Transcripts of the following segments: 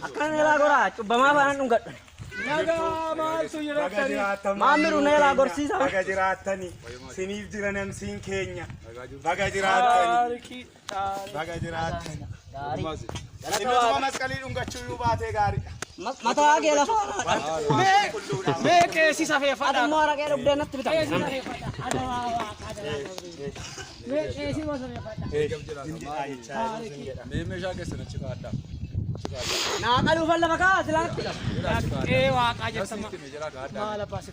Akkana na ilaa goraa cubbamaa faana dhungadhu. Nagaa maaltu jiraatanii? Maammiru na ilaa gorsiisa. Baga jiraatani. Siniif jira namsiin keenya. Baga jiraatani. Taarikii. Baga jiraatte. Innutuma masqalii dhungachuu iyyuu baatee gaariidha. Mataa kee lafa Mee qeesii safeeffadha. Adammoo araqee dhugdee natti bitan. Naa qaluufan lafa kaa silaa natti bitan. Qee waaqaa jettan maal abbaa si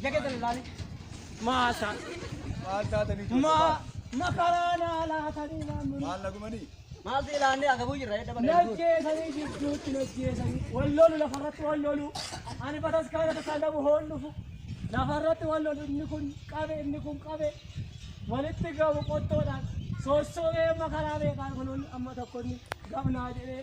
Ija keessan ilaali. Maasha. Maal taatanii ijoollee Ma baala? makaraa naa laatanii naamni. Maal nagumanii? Maal si ilaannee agabuu jirra edda bakka jirtu. Najjeesanii jidduutti najjeesanii. Wal lolu lafarratti wal lolu. Ani bataskaana tasaa dhabu hoon dhufu. Lafarratti wal lolu inni kun qabe inni kun qabe. Walitti gabu qottoodhaan. Soossoomee makaraa beekaan kunuun amma tokko inni gamnaa jedhee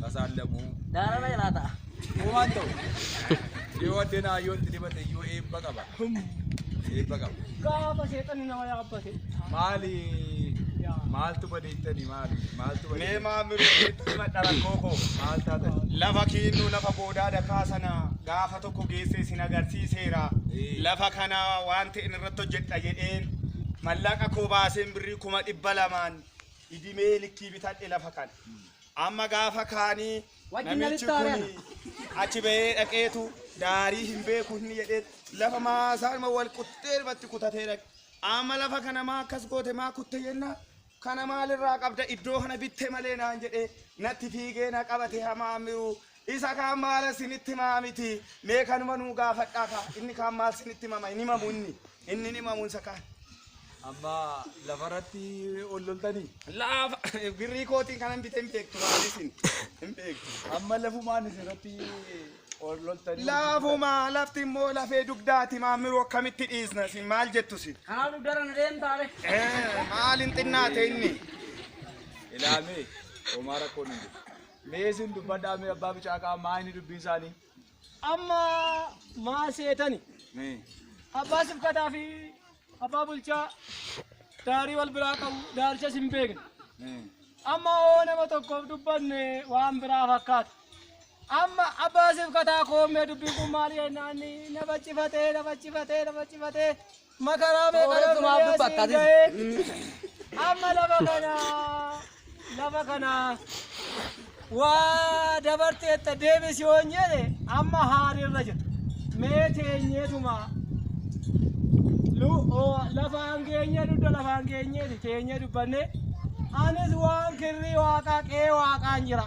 tasaallamu uumaan ta'u yoo addeen hayyootti dibate iyyuu eebba qaba eebba qaba Gaafa seexanni nama yaabbate. maali maaltu badeettani maali maaltu Mee badeettani maamiluu itti madda rakkoo koo. maal taatani Lafa kiinnuu lafa boodaa dakaa sana gaafa tokko geessee isin agarsiiseera. Ee. Lafa kana waan ta'een irratti hojjedha jedheen mallaqa koo baaseen birrii kuma dhibba lamaan idimee likkii bitadhe lafa kan amma gaafa kaanii Wajjin namichi namitti kun haaraan. achi bahee dhaqeetu daarii hin beeku hin jedhee lafa maasaa ilma wal quttee irratti kutatee dhaqe amma lafa kana maa akkas goote maa kutte jenna kana maalirraa qabda iddoo kana bitte malee naan jedhee natti fiigee na qabate hamaa miruu Isa kaan maala isinitti himaa miti mee kanuma nuu gaafadhaa kaa inni kaan maal isinitti himama hin himamu inni inni hin himamu isa kaan. Amma lafarratti ol loltanii? Laafa birrii kootiin kanan bite hin beektu maal isin hin beektu. Amma lafumaan isirratti ol loltanii? Laafuma lafti immoo lafee dugdaati maammiruu akkamitti dhiisna isin maal jettu isin. Kanaa dugdara na deemtaare. Eh, Maal hin xinnaate inni. Ilaamee homaa rakkoon hin jiru. Mee isin dubbadhaa mee abbaa bicaaqaa maa inni dubbiin isaanii? Amma maa seetani? Mee. Abbaa sifkataa fi abbaa bulchaa daarii wal biraa qabu daaricha sin beekne. Mee. Amma hoo nama tokkoof dubbanne waan biraa fakkaata. Amma abbaa sifkataa koomee dubbiin kun maal jennaan na baccifatee na baccifatee na baccifatee. Makaraa meeqa Sooretti maaf Yookiin dubbatta asiin atis? ga'ee? Amma lafa kana lafa kana waa dabarteetta deebisi yoon jedhe amma haarirra jira. Mee teenyeetuma lu- oo, lafaan geenyee dugda lafaan geenyeeti teenyee dubbanne anis waan kirrii waaqaa qe'ee waaqaan jira.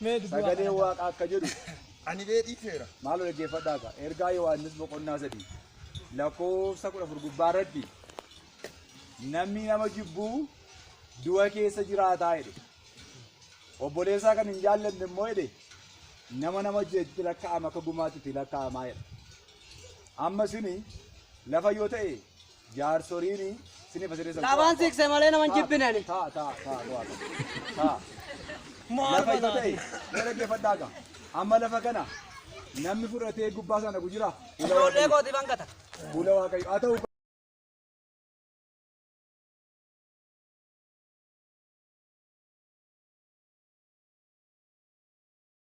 Mee dubbaa kana Sagaleen irraa. Waaqaa akka jedhu Ani bee dhiifeera. maaloo dhaggeeffadhaa ka ergaa Yohaannis boqonnaa sadii lakkoofsa kudha afur gubbaa irratti namni nama jibbuu du'a keessa jiraataa jedhe obboleessaa kan hin jaallanne immoo jedhe nama nama jeetti lakkaa'ama akka gumaatti itti lakkaa'amaa jedha amma sini lafa yoo ta'e Jaarsoliini sini fasiree san. Labaan siikse malee naman jibbinani. Taa taa taa taa taa. Lafa isa ta'e na dhaggeeffadhaa gaa. Amma lafa kana namni fudhatee gubbaa sana gujira. Fuula Ijoollee waaqayyo. kooti bangata. Fuula waaqayyo. Haa ta'u.